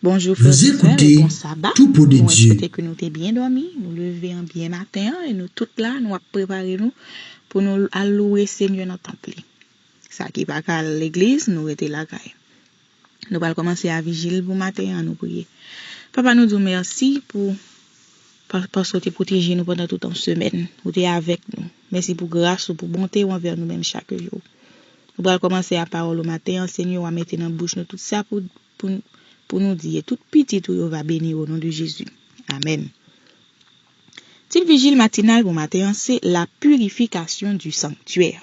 Bonjou frè Vous Vincent écoutez e bon saba Tout pour de nou Dieu. espete ke nou te byen dòmi nou leve an byen maten an e nou tout la nou ap prepare nou pou nou al louwe Senyè nan tanp li sa ki pa ka al legliz nou rete lakay Nou pral kòmanse a vijil pou maten an, an nou priye. Papa nou di w mèsi pou paske w te pwoteje nou pandan tout yon semèn. Ou te avèk nou. Mèsi pou gras ou, pou bonte ou anvè nou menm chak jou. Nou pral kòmanse a pawòl ou maten an, Senyè wa mete nan bouch nou tout sa pou nou di e tout pitit ou yo va beni o non de Jezi. Amèn. Tit vijil matinal pou maten an se La purification du sanctuaire.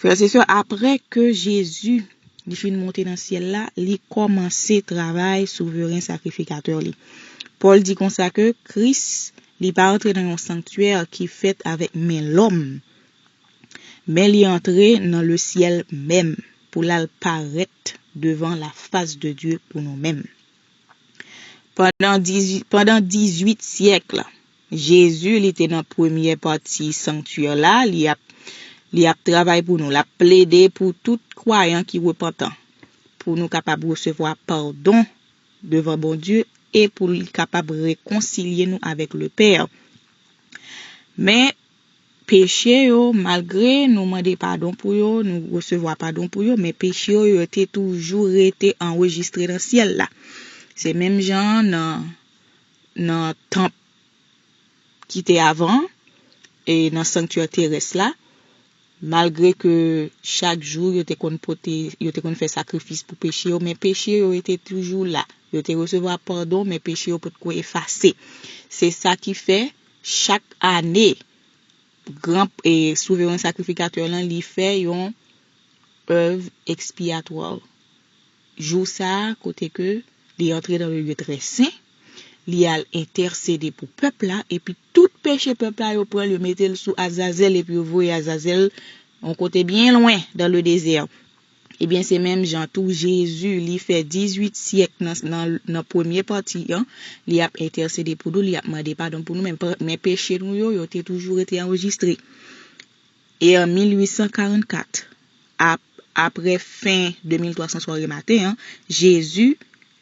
Frè se sè aprè ke Jezi li fin monte nan syèl la, li kòmanse travay souveren sakrifikatè li. Pòl di konsa ke Kris li pa antre nan yon sanktyè ki fèt avèk men lòm, men li antre nan le syèl menm pou l'al parèt devan lafas de Dye pou nou menm. Pandan dizwit syèk, Jezi li te nan premyè pati sanktyè la, li ap li ap travay pou nou, l ap plede pou tout kwayan ki repantan, pou nou kapab resevwa padon devan Bondye e pou li kapab rekonsilye nou avèk Lepè. Men, peche yo, malgre nou mande padon pou yo, nou resevwa padon pou yo, men peche yo, yo te toujou rete anrejistre nan syèl la. Se menm jan an nan. nan tanp ki te avan an e nan sanktyè terès la, malgre ke chak jou yo te konn pote, yo te konn fè sakrifis pou peche yo, men peche yo te toujou la. Yo te resevwa padon, men peche yo potko efase. Se sa ki fè, chak ane, gran, e Souveren Sakrifikatè lan, li fè yon Èv Ekspiyatwa. Jou sa a kote ke Li antre nan le lye trè sen, Li al entèsede pou pèp la, epi tout peche pèp la yo pran'l yo mete'l sou Azazèl epi yo voye Azazèl yon kote byen lwen dan le dezè. Ebyen se menm jan tou Jezi li fè 18 syèk nan premye pati an, li ap entèsede pou nou, li ap mande padon pou nou men, men peche nou yo, yo te toujou rete anrejistre. E an 1844, ap, apre fen 2300 swa re maten an, Jezi,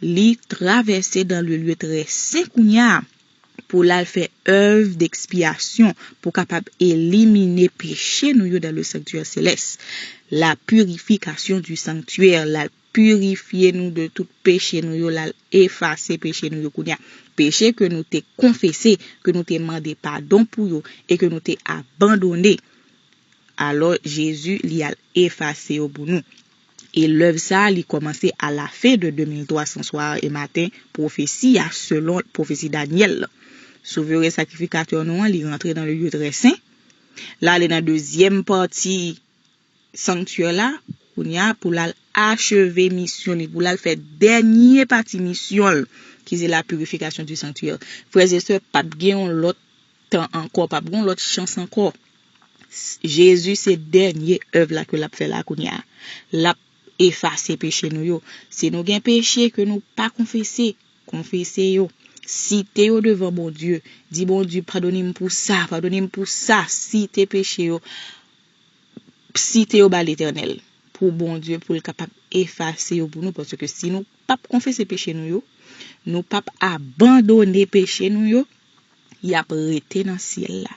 Li travèse dan le lye trè sen kounye a, pou L al fè èv dekspiyasyon, pou kapab elimine peche nou yo dan le sanktyè selès, la purification du sanctuaire, L al. purifye nou de tout peche nou yo, l'al efase peche nou yo kounye a. Peche ke nou te konfese, ke nou te mande padon pou yo, e ke nou te abandone. Alò, Jezi, li al efase yo pou nou. E lèv sa a, li kòmanse a la fen de 2300 swa e maten pwofesi a, selon pwofesi Danyèl lan. Souveren Sakrifikatè nou an, li rantre nan le lye trè sen, l'ale nan dezyèm pati, sanktyè la kounye a pou l al acheve misyon li, pou l al fè dènye pati misyon l, ki se la purification du sanctuaire. Frèzè sè, p ap gen yon lòt tan ankò, p ap gen yon lòt chans ankò. Jezi se dènye èv la ke l ap fè la kounye a. L ap efase peche nou yo. Si nou gen peche ke nou pa konfese, konfese yo. Site yo devan Bondye. Di Bondye, padone m pou sa, padone m pou sa. Site peche yo. site yo ba Letènèl pou Bondye pou l kapab efase yo pou nou paske si nou pap konfese peche nou yo, nou pap abandone peche nou yo, y ap rete nan syèl la.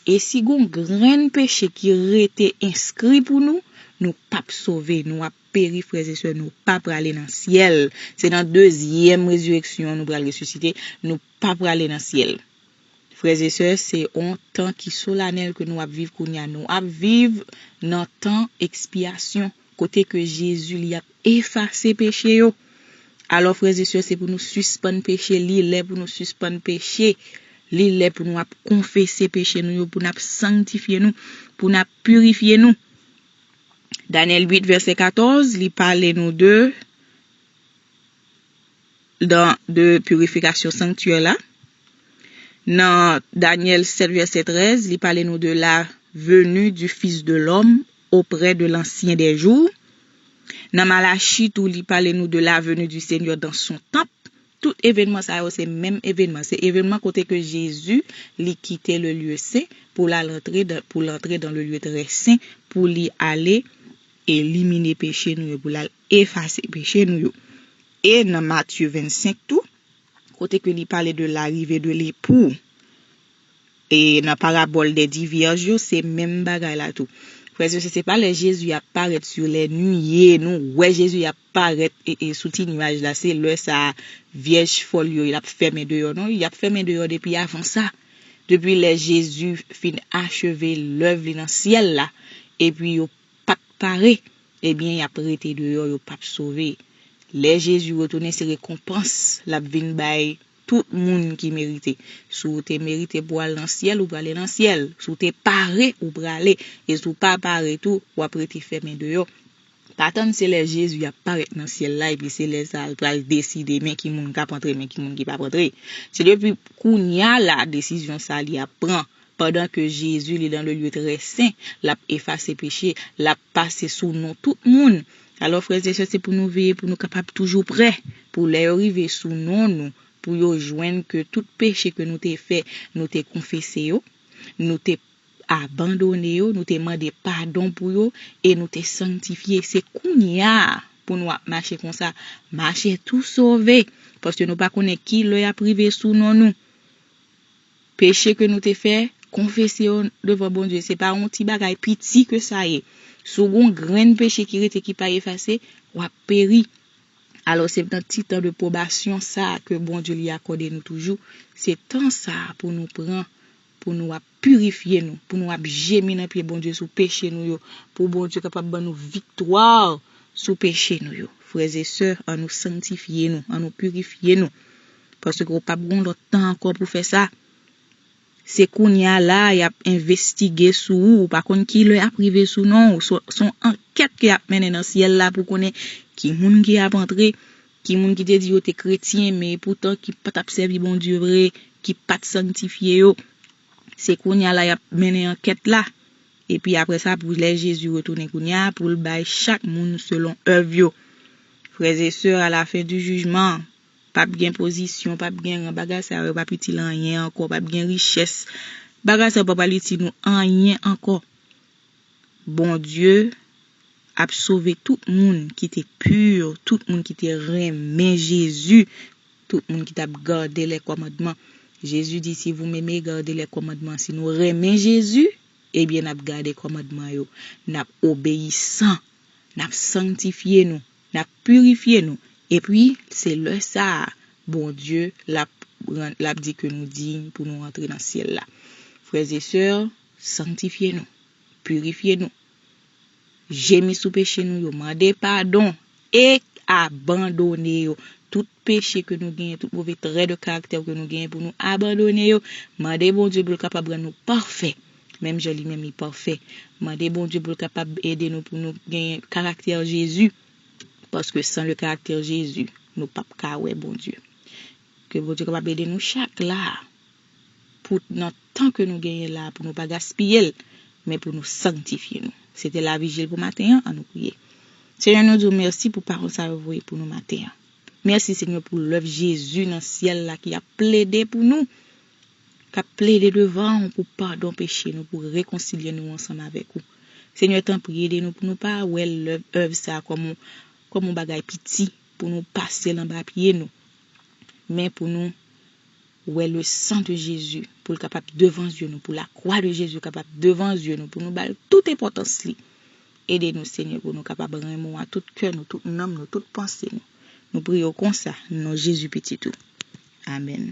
E si gon grenn peche ki rete enskri pou nou, nou pap sove, nou ap peri frèzesè nou pa prale nan syèl, se nan dezyèm rezireksyon nou pral resisite, nou pa prale nan syèl. Frères et sœurs se on tan ki solanèl ke nou ap viv kounya nou ap viv nan tan ekspyasyon kote ke Jezi li ap efase peche yo alò frères et sœurs se pou nou sispann peche li lè pou nou sispann peche li lè pou nou ap konfese peche nou yo pou nap sangtifye nou pou nap pirifye nou Daniel 8 verset 14 li pale nou de dan de pirifikasyon sanktyè la. Nan Danyèl 7 vèsè 13, li pale nou de la venu du Fils de l'homme auprès de l'Ancien des jours. Nan Malachi tou li pale nou de la venu du Seigneur dans son temple. Tout evenman sa yo se menm evenman. Se evenman kote ke Jezi li kite le lieu saint pou l'al antre dan, pou l'antre dan le lieu très saint pou li ale elimine peche nou yo, pou l'al efase peche nou yo. E nan Matthieu 25 tou, kote ke li pale de larive de lepou, e nan parabòl dè di vyèj yo, se menm bagay la tou. Frè e sè, se pa lè Jezi ap parèt sou lè nuye, nou wè Jezi ap parèt sou ti nuaj la, se lè sa a vyèj fòl yo, y ap fèmen deyò, non, y ap fèmen deyò depi avan sa, depi lè Jezi fin acheve lèv li nan syèl la, epi yo pat pare ebyen yap rete deyò yo pap sove lè Jezi retounen se rekonpans lap vin bay tout moun ki merite si w te merite pou w al nan syèl ou prale nan syèl si w te pare ou prale e si w pa pare tou wap rete fèmen deyò pa tann se lè Jezi ap parèt nan syèl la epi se lè sa l pral deside men ki moun kap antre men ki moun ki pap antre se depi kounya la desizyon sa li ap pran Pandan ke Jezi li lan le lye trè sen, lap efase peche, lap pase sou nou tout moun. Alò frè e sè se pou nou veye pou nou kapab toujou prè, pou lè yo rive sou non nou, pou yo jwenn ke tout peche ke nou te fè, nou te konfese yo, nou te abandone yo, nou te mande padon pou yo, e nou te sanktifye. Se kounya pou nou ap mache konsa, mache tou sove, paske nou pa konnen ki lè yap rive sou non nou. Peche ke nou te fè, konfese yo devan Bondye. Se pa yon ti bagay piti ke sa ye. Si w gen yon grenn peche ki rete ki pa efase, w ap peri. Alò se nan ti tan de pwobasyon sa a ke Bondye li akòde nou toujou, se tan sa a pou nou pran, pou nou ap pirifye nou, pou nou ap jemi nan pye Bondye sou peche nou yo, pou Bondye kapab ban nou viktwa sou peche nou yo. Frè e sè, an nou sangtifye nou, an nou pirifye nou. Paske ou pap gon lòt tan ankò pou fè sa. Se kounya la a yap envestige sou ou, ou pa konn ki lè yap rive sou non ou, son ankèt ke yap mennen nan syèl la pou konnen ki moun ki ap antre, ki moun ki te di yo te kretyen men epoutan ki pa tap sèvi Bondye vre, ki pat sangtifye yo. Se kounya la yap mennen ankèt la. Epi apre sa pou lè Jezi retounen kounya a poul bay chak moun selon èv yo. Frè e sè a la fen di jijman an. Pap gen pozisyon, pap gen ran, bagay sa yo pap itil anyen ankò, pap gen richès, bagay sa yo pa pral itil nou anyen ankò. Bondye ap sove tout moun ki te pur, tout moun ki te renmen Jezi, tout moun ki t ap gade lè kòmandman. Jezi di si vou meme gade lè kòmandman. Si nou renmen Jezi, ebyen n ap gade kòmandman yo, n ap obeyisan, n ap sangtifye nou. N ap pirifye nou. Epi, se lè sa a, Bondye, l ap rann, l ap di ke nou diy pou nou antre nan syèl la. Frèzesè, sanktifye nou. Pirifye nou. Jemi sou peche nou yo. Mande padon. E abandone yo. Tout. peche ke nou genyen, tout move trè de karaktè ke nou genyen pou nou abandone yo, mande Bondye pou l kapab rann nou pafè, menm jan li menm li pafè. Mande Bondye pou l kapab ede nou pou nou genyen karaktè Jezi, paske san le karaktè Jezi, nou pa p ka wè Bondye. Ke Bondye kapab ede nou chak la, pou nan tan ke nou genyen la, pou nou pa gaspiye l, men pou nou sanktifye nou. Se te lavijil pou maten an, an nou priye. Senyè nou di w mèsi pou pawòl sa yo voye pou nou maten an. Mèsi Senyè pou lèv Jezi nan syèl la ki ap plede pou nou, k ap plede devan ou pou padon peche nou, pou rekonsilye nou ansanm avèk ou. Senyè tanpri ede nou pou nou pa wè lèv èv sa a kòm kòm yon bagay piti pou nou pase l anba pye nou, men pou nou wè le san de Jezi pou l kapab devan zye nou, pou lakwa de Jezi kapab devan zye nou, pou nou ba l tout enpòtans li. Ede nou Senyè pou nou kapab renmen w a tout kè nou, tout nanm nou, tout panse nou. Nou priye w konsa nan non Jezi Pitit ou. Amèn.